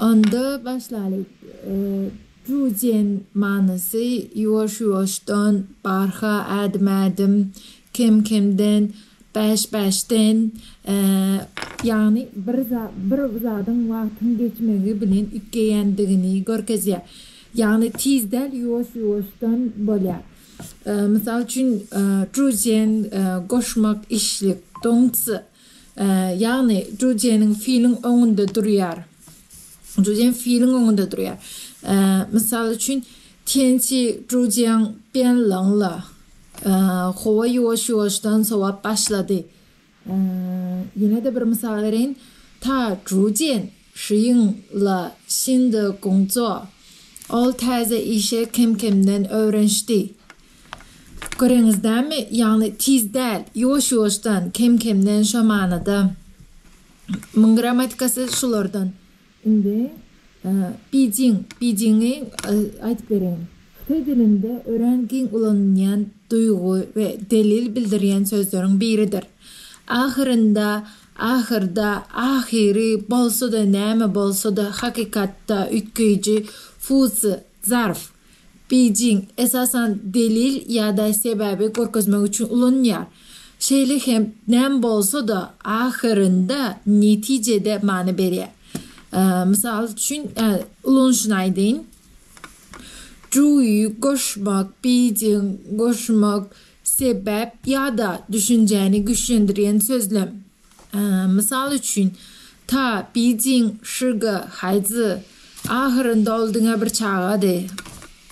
Onda başlalyk. Jujen manysy ýuwaş-ýuwaşdan, barha, ädim-ädim, kem-kemden, bäş-bäşden, ýagny bir bir zadyň wagtyň geçmegi bilen üýtgeýändigini görkezýär. Ýagny tiz däl, ýuwaş-ýuwaşdan bolýar. Mysal üçin, jujen goşmak işlik, dongci. Ýagny, jüjeniň filiň öňünde durýar. Jüjeň filiň öňünde durýar. Mysal üçin, Tençi jüjeň Ben Lynla howa ýuwaş-ýuwaşdan sowap başlady. Ýene-de bir mysal bereýin. Ta jüjen Şiň la Şin de Gungco. Ol täze işe kem-kemden öwrenşdi. Göreňizdämi, ýagny tiz däl, ýuwaş-ýuwaşdan, kem-kemden şo manyda. Muň grammatikasy şulardan. Indi Bijiň, Bijiňi aýdyp bereýin. Hytaý dilinde örän giň ulanylýan duýgy we delil bildirýän sözleriň biridir. Ahyrynda, ahyrda, ahyry, bolsa-da, näme bolsa-da, hakykatda, üýtgeýji, fuzi, zarf. Beýjing, esasan, delil ýa-da sebäbi görkezmek üçin ulanylýar. Şeýle hem näme bolsa-da, ahyrynda netijede many berýär. Mysal üçin, ulanyşyny aýdaýyn. Juý, goşmak, beýjing, goşmak, sebäp ýa-da düşünjäni güýçlendirýän sözlem. Mysal üçin, Ta, Bijing, Şyga, Haýzy, ahyrynda ol diňe bir çagady.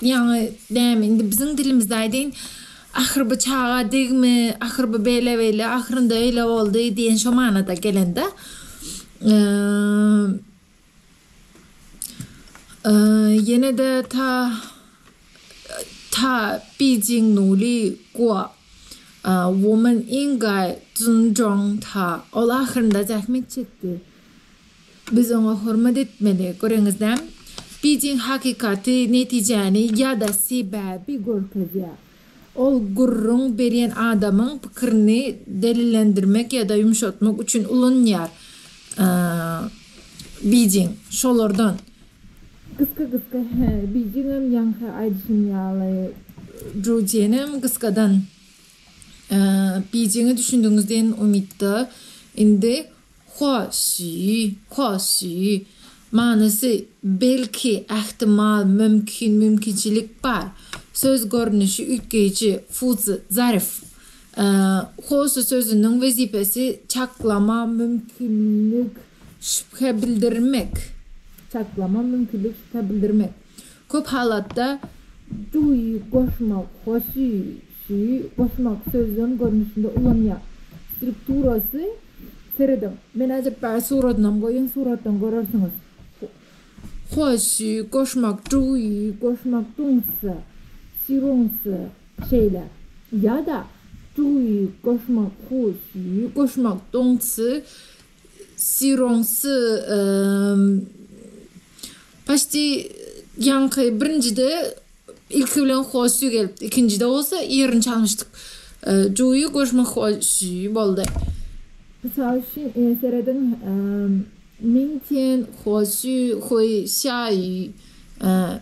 Ýaňy, näme, indi biziň dilimizde aýdaýyn, Ahyr bu çaga degmi, ahyr bu beýle-beýle, ahyrynda öýle boldy diýen şo manada gelen-dä. Ýene-de ta ta Beijing Nuli Guo Woman Ingai Zhong ta ol ahyrynda zähmet çekdi. Biz oňa hormat etmeli. Göreňiz näm? Beijing hakykaty, netijäni ýa-da sebäbi görkezýär. Ol gürrüň berýän adamyň pikirini delillendirmek ýa-da ýumşatmak üçin ulanýar. Bijiň, şolardan. Gysga-gysga, Hä, bijiňem ýaňky aýdyşym ýaly. Judjenem gysgadan, Bijiňe düşündigiňiz diýen umytda. Indi Hoşy, hoşy, manysy, belki, ähtimal, mümkin, mümkinçilik bar. Söz görnüşi üýtgeýji, fuzy, zarif. Hoşy sözüniň wezipesi çaklama, mümkinlik, şübhe bildirmek. Çaklama, mümkinlik, şübhe bildirmek. Köp halatda, duýy, goşmak, hoşy, Şu goşmagy sözlem görnüşinde ulanýar. Strukturasy serediň. Men äjekbaý suratynam goýýan, suratdan görersiňiz. Hoşy, goşmak, juwuýy, goşmak, duňsa, şiruňsa, şeýle. Ýa-da, juwuýy, goşmak, hoşy, goşmak, duňsa, şiruňsa, ym, paşti ýaňky birinjide. Ilki bilen Hoşy gelipdi. Ikinjide bolsa ýerini çalyşdyk. Juýy görüşmek hoşy boldy. Mysal üçin, serediň, Ming tian huo xu hui xia yu,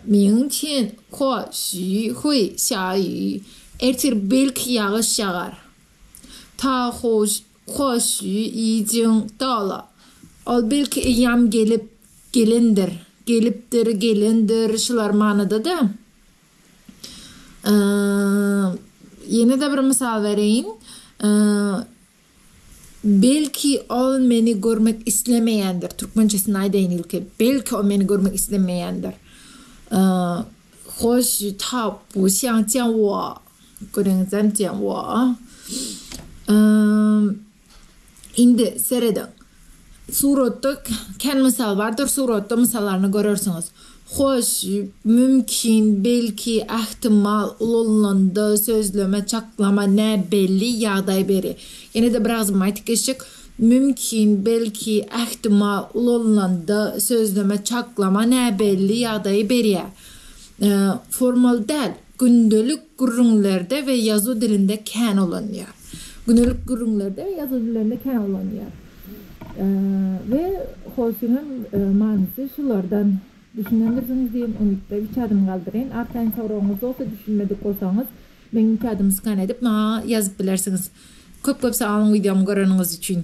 Ming tian huo xu hui xia yu, Ertir belki ýagyş ýagar. Ta huo Hoş, iýjiň doly. Ol belki eýýam gelip, gelendir, gelipdir, gelendir, şular manyda-da. Ýene-de bir mysal bereýin. Belki ol meni görmek islemeýändir. Türkmençesini aýdaýyn ilki. Belki ol meni görmek islemeýändir. Hoş, tap, şaňçawa. Göreňizem diýen woo. Indi serediň. Suratda kän mysal bardyr, suratda mysallaryny görersiňiz. Hoş, mümkin, belki, ähtimal, ulanylanda, sözleme, çaklama, näbelli, ýagdaý beri. Ýene-de bir agzybirme aýtyp geçjek. Mümkin, belki, ähtimal, ulanylanda, sözleme, çaklama, näbelli, ýagdaý beri. Formal däl. Gündelik gürrüňlerde we ýazuw dilinde kän ulanýar. Gündelik gürrüňlerde we ýazuw dilinde kän ulanýar. We hoşyňam manysy şulardan düşünendirsiňiz diýen umytda üç adym galdyraýyn. Arkaýyn soragyňyz bolsa, düşünmedik bolsaňyz, meň üç adym skan edip, maňa ýazyp bilersiňiz. Köp-köp sag boluň wideomy göreniňiz üçin.